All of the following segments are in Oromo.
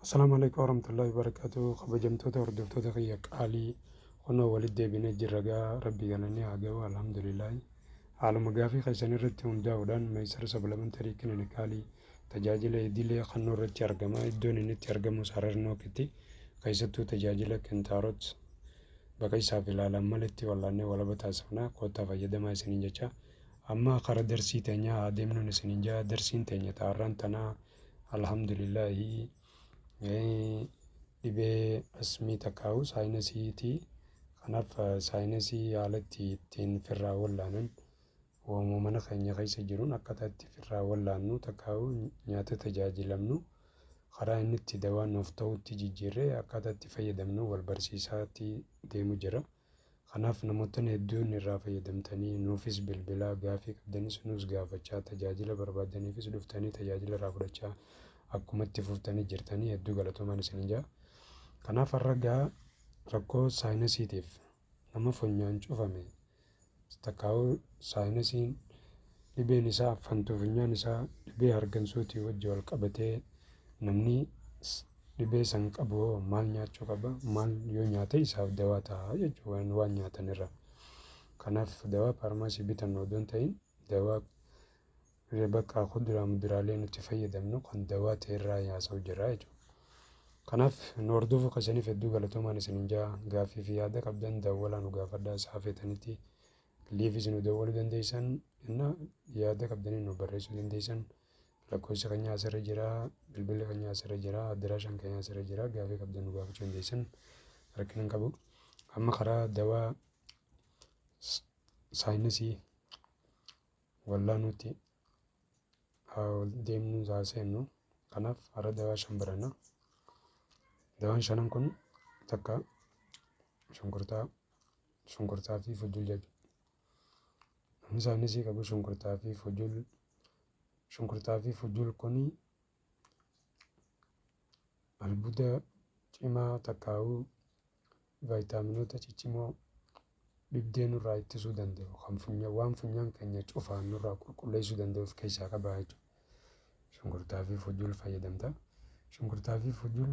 Assalaamu alaikum warahmatullahi wabarakatuh kabajamtoota hordoftoota kiyya qaalii kunoo walitti deebinee jirra gaa rabbii galanni haa ga'u alhamdulillahi haaluma gaafii keessan irratti hundaa'uudhaan meesara sablamantari kilinikaalii tajaajila idilee kannoo irratti argama iddoon inni itti argamus harar nookitti keessattuu tajaajila kintaaroot bakka isaaf ilaalan malitti wal'aannee walaba taasifna koottaa fayyadamaa isiniin jecha amma kara darsii teenyaa haa deemnuun isiniin jaa darsiin teenya taarraan tanaa Alhamdulillahi dhibee asmii takkaa'u saayinasiitii kanaaf saayinasii haala itti ittiin firraa wallaanan waamuma mana keenya keessa jiruun akkaataa itti firraa wallaannu takkaa'u nyaata tajaajilamnu karaa inni itti dawaa nuuf ta'utti jijjiirree akkaataa itti fayyadamnu wal barsiisaatii deemu jira. Kanaaf namoottan hedduun irraa fayyadamtanii nuufis bilbilaa gaafii qabdanis nuus gaafachaa tajaajila barbaaddaniifis dhuftanii tajaajila irraa fudhachaa akkuma itti fuftanii jirtanii hedduu galatoomaan isinin jaa. Kanaaf har'a gaa rakkoo saayinasiitiif nama funyaan cufame Stakaauu Saayinasiin dhibeen isaa affantuu funyaan isaa dhibee hargansuutii wajji wal qabatee namni dhibee san qabu hoo maal nyaachuu qaba maal yoo nyaate isaaf dawaa ta'a jechuu waan waan nyaatan irra kanaaf dawaa paarmaasii bitannu odoon ta'in dawaa Re baqaa kuduraa muduraalee nuti fayyadamnu kan dawaa ta'e irraa haasa'u jirra jechuudha. Kanaaf nu hordofuu keessaniif hedduu galatoomaan isin hin jaa gaaffii fi yaada qabdan dawwalaa nu gaafadhaa sa'a feetanitti liivis nu dawwaluu dandeessan inna yaada qabdanii nu barreessuu dandeessan lakkoofsa keenya asirra jira bilbilli keenya asirra jira addiraashaan keenya asirra jira gaaffii qabdan nu gaafachuu dandeessan rakkina hin qabu amma karaa dawaa saayinsii Wallah nuti deemnu haa seennu. Kanaaf har'a dawaa shan baranna. Dawaan shanan kun takka shunkurtaa, shunkurtaa fi fujjul jedhu. Isaanis qabu shunkurtaa fi fujjul. Shunkurtaa fi fujjul kun albuda cimaa takkaa'uu vaayitaaminoota ciccimoo dhibdee nurraa ittisuu danda'u kan funya waan funyaan keenya cufaan nurraa qulqulleessuu danda'u of keessaa qaba jechuudha. Shunkurtaa fi fujul fayyadamta. Shunkurtaa fi fujul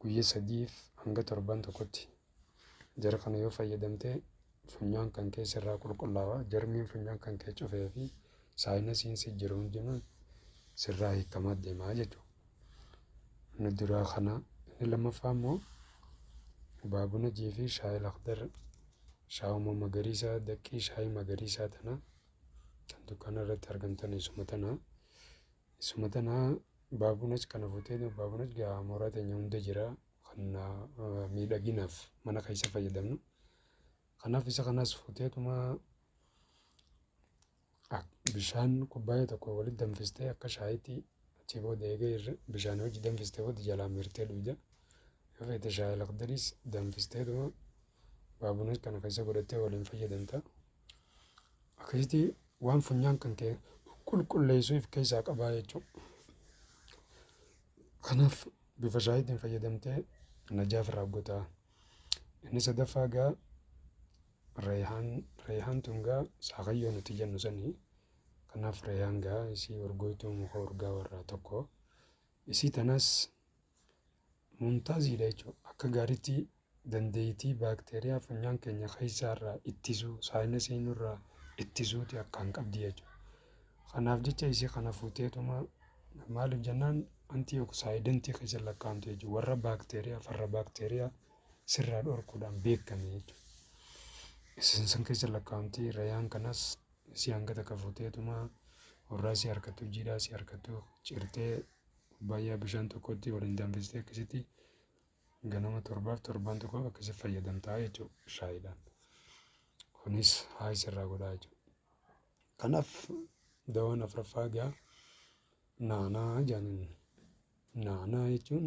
guyya sadiif hanga torban tokkotti jara kana yoo fayyadamte funyaan kan kee sirraa qulqullaawa jarmiin funyaan kan kee cufee fi saayinasiin si jiru hundinuu sirraa hiikamaa deemaa jechuudha. Inni duraa kana inni lammaffaa immoo baabuna jii fi shaayii lakdar shaawuma magariisaa daqqii shaayii magariisaa tana kan dukkaana irratti argamtan isuma tana. Isuma tana baabunach kana futee baabunach gaa mooraa teenya hunda jira kan miidhaginaaf mana keessa fayyadamnu. Kanaaf isa kanas futeetuma bishaan kubbaayee tokko walitti danfistee akka shaayitti achi booda eegee bishaan hojii danfistee booda jalaa mirtee dhugda. Yoo feete shaayii lakdaris danfisteetuma baabunach kana keessa godhattee waliin fayyadamta. Akkasitti waan funyaan kan kee qulqulleessu if keessaa qabaa jechuudha. Kanaaf bifa shaayiitiin fayyadamtee najaaf irraa gotaa. Inni sadaffaa gaa reehaan reehaan tun gaa saakayyoo nuti jennu sanii kanaaf reehaan gaa isii urgooytuu muka urgaa warraa tokko isii tanas mumtaaziidha jechuudha akka gaariitti dandeeytii baakteeriyaa funyaan keenya keessaa irraa ittisuu, saayinasii nurraa ittisuuti akkaan qabdi jechuudha. Kanaaf jecha isii kana fuuteetuma maaliif jennaan antii oksaayidantii keessa lakkaa'amtu jechuudha. Warra baakteeriyaa farra baakteeriyaa sirraa dhorkuudhaan beekame jechuudha. Isin san keessa lakkaa'amti rayaan kanas si hanga takka fuuteetuma warraa si harkattu jiidhaa si harkattu cirtee baay'ee bishaan tokkotti waliin danfistee akkasitti ganama torbaaf torban tokko akkasi fayyadamtaa jechuudha shaayiidhaan. Kunis haayis irraa godhaa jechuudha. Kanaaf dawaan afraffaa egaa naanaa jedhaniin naanaa jechuun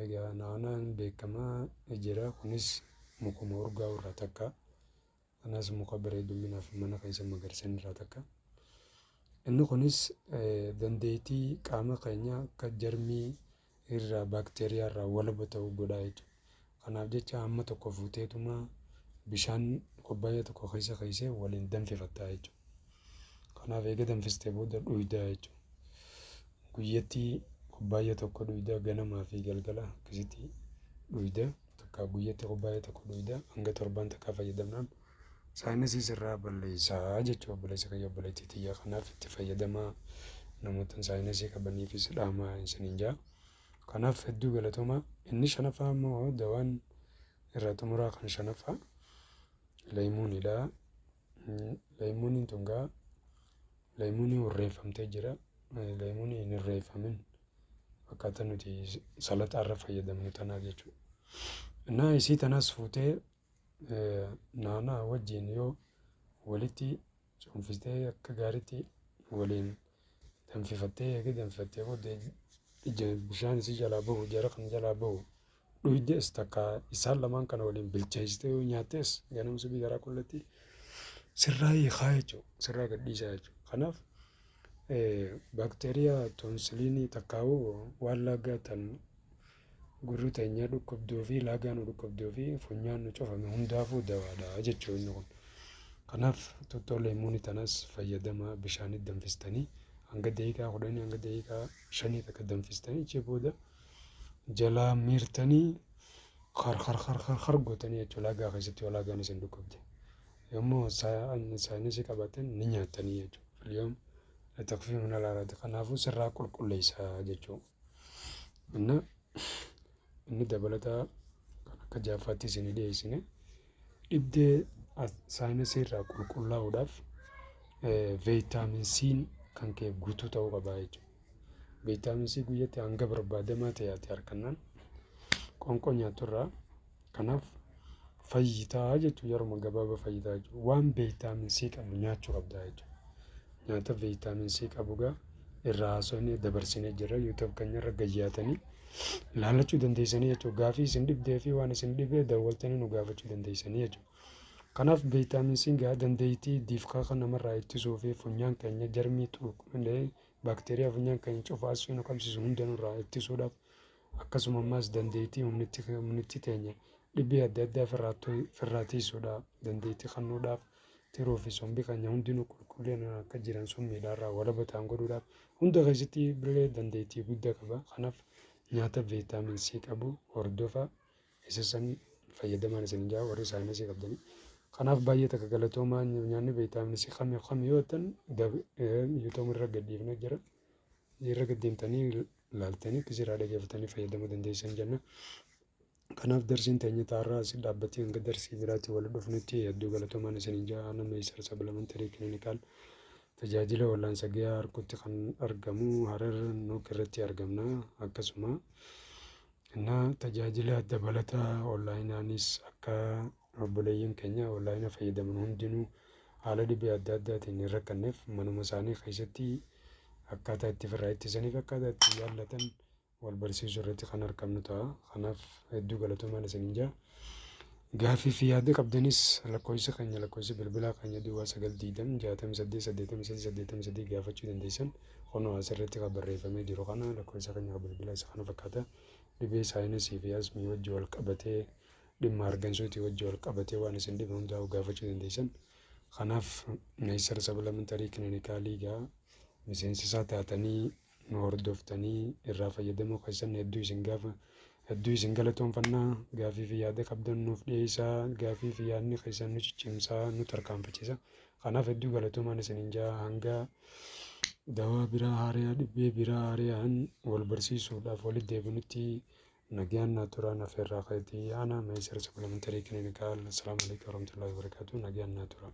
egaa naanaan beekamaa jira kunis mukuma urgaa irraa takka Kanas muka bira heddumminaaf mana keessa magarsan irraa takka. Inni kunis dandeettii qaama keenya akka jarmii irraa baakteeriyaa irraa walaba ta'u godhaa jechuudha. Kanaaf jecha hamma tokko fuuteetuma bishaan kubbaayyaa tokko keessa keessee waliin danfifattaa jechuudha. Kanaaf eega danfistee booda dhuydaa jechuudha. Guyyatti kubbaayyaa tokko dhuydaa ganamaa fi galgala akkasitti dhuyda. takkaa guyyatti kubbaayee tokko dhuyda hanga torbaan takkaa fayyadamnaan saayinasii sirraa balleessaa jechuu obboleessa kiyya obboleettii tiyya kanaaf itti fayyadamaa namoota saayinasii qabaniifis dhaamaa isiniin jaa kanaaf hedduu galatomaa inni shanaffaa immoo dawaan irraa xumuraa kan shanaffaa leeymuunidha leeymuuniin tungaa leeymuunii hurreeffamtee jira leeymuunii hin hurreeffamin Akkaataa nuti salaxaa irra fayyadamnu tanaa jechuudha. Innaa isii tanas fuutee naanaa wajjin yoo walitti cuunfistee akka gaariitti waliin danfifattee eega danfifattee booddee ija bishaan isii jalaa bahu jara kan jalaa bahu dhuydees takka isaan lamaan kana waliin bilcheessitee yoo nyaattees ganama subii garaa qullatti sirraa hiikaa jechuudha. Sirraa gadhiisaa jechuudha. Kanaaf baakteeriyaa toonsiliinii takkaa'u waan laagaa tan gurri teenyaa dhukkubduu fi laagaa nu dhukkubduu fi funyaan nu cufame hundaafuu dawaadha jechuudha inni kun. Kanaaf tuttoo leemuunii tanas fayyadama bishaanii danfistanii hanga daqiiqaa kudhanii hanga daqiiqaa shanii takka danfistanii achi booda jalaa miirtanii kar kar kar kar kar gootanii jechuudha lagaa keessatti yoo lagaan isin dhukkubde yommuu isaanii si qabatan ni nyaatanii jechuudha filiyoom latakfii mana laalaati kanaafuu sirraa qulqulleessaa jechuudha inni dabalataa kan akka jaaffaatti isin dhiyeessine. Dhibdee saayinasii irraa qulqullaa'uudhaaf veeyitaamin C'n kan kee guutuu ta'uu qabaa jechuudha. Veeyitaamin C guyyatti hanga barbaadamaa ta'e ati harkannaan qoonqoo nyaattu irraa kanaaf fayyitaa jechuudha. Yeruma gabaabaa fayyitaa jechuudha. Waan veeyitaamin C qabu nyaachuu qabdaa jechuudha. nyaata vitamin C qabugaa irraa haasofne dabarsine jirra youtube keenyarra gayyaatanii ilaallachuu dandeessanii jechuudha gaafii isin dhibdee fi waan isin dhibee daawwattanii nu gaafachuu dandeessanii jechuudha. Kanaaf vitamin C gaa dandeettii diifkaa kan namarraa ittisuu fi funyaan keenya jarmii tuuqlee baakteeriyaa funyaan keenya cufaasuu nu qabsiisu hunda nurraa ittisuudhaaf akkasuma ammaas dandeettii humnitti humnitti teenya dhibee adda addaa firraa tiisuudhaaf dandeettii kennuudhaaf Tiruu fi sombi keenya hundinuu qulqullinaan akka jiran summiidhaarraa walaba ta'an godhuudhaaf hunda keessatti birree dandeettii guddaa qaba. Kanaaf nyaata viitaamin C qabu hordofaa isa sanii fayyadamaan isin jaa warri saayinsii qabdanii. Kanaaf baay'ee takka galatoomaa nyaanni viitaamin C kami kami yoo ta'an yuutuun irra gadhiifnee jira. Irra gaddeemtanii laaltanii akkasiirraa dhageeffatanii fayyadamuu dandeessan jenna. Kanaaf darsiin teenya taarraa asi dhaabbatee hanga darsii biraatti wal dhufnutti hedduu galatoomaan isiniin ja'a aanaa Meeysar Sablamantary Clinical tajaajila wallaansa gayaa harkutti kan argamu Harar Nuuk irratti argamna akkasuma na tajaajila dabalataa onlaayinaanis akka obboleeyyan keenya onlaayina fayyadaman hundinuu haala dhibee adda addaatiin hin rakkanneef manuma isaanii keessatti akkaataa itti firraa ittisaniif akkaataa itti yaallatan wal barsiisuu irratti kan argamnu ta'a. Kanaaf hedduu galatoomaan isiniin jaa. Gaaffii fi yaada qabdanis lakkoofsa keenya lakkoofsa bilbilaa keenya duwwaa sagal diidam jaatam saddeet saddeetam sadii saddeetam sadii gaafachuu dandeessan kunoo asirratti kan barreeffamee jiru kana lakkoofsa keenya bilbilaa isa kana fakkaata dhibee saayinsii fi asmii wajji wal qabatee dhimma argansuutii wajji wal qabatee waan isin dhibe hundaa'u gaafachuu dandeessan kanaaf meesar sablamentarii kilinikaalii gaa miseensisaa taatanii nu hordoftanii irraa fayyadamuu keessan hedduu isin gaafa hedduu isin galatoonfanna gaafii fi yaada qabdan nuuf dhiyeessaa gaafii fi yaadni keessan nu ciccimsaa nu tarkaanfachiisa kanaaf hedduu galatoomaan isiniin jaa hanga dawaa biraa haariyaa dhibbee biraa haariyaan wal barsiisuudhaaf walitti deebinutti nagaan naa turaa naaf irraa keetii ana meesara supplementary clinical assalaamu alaikum warahmatullahi wabarakatuh nagaan naa turaa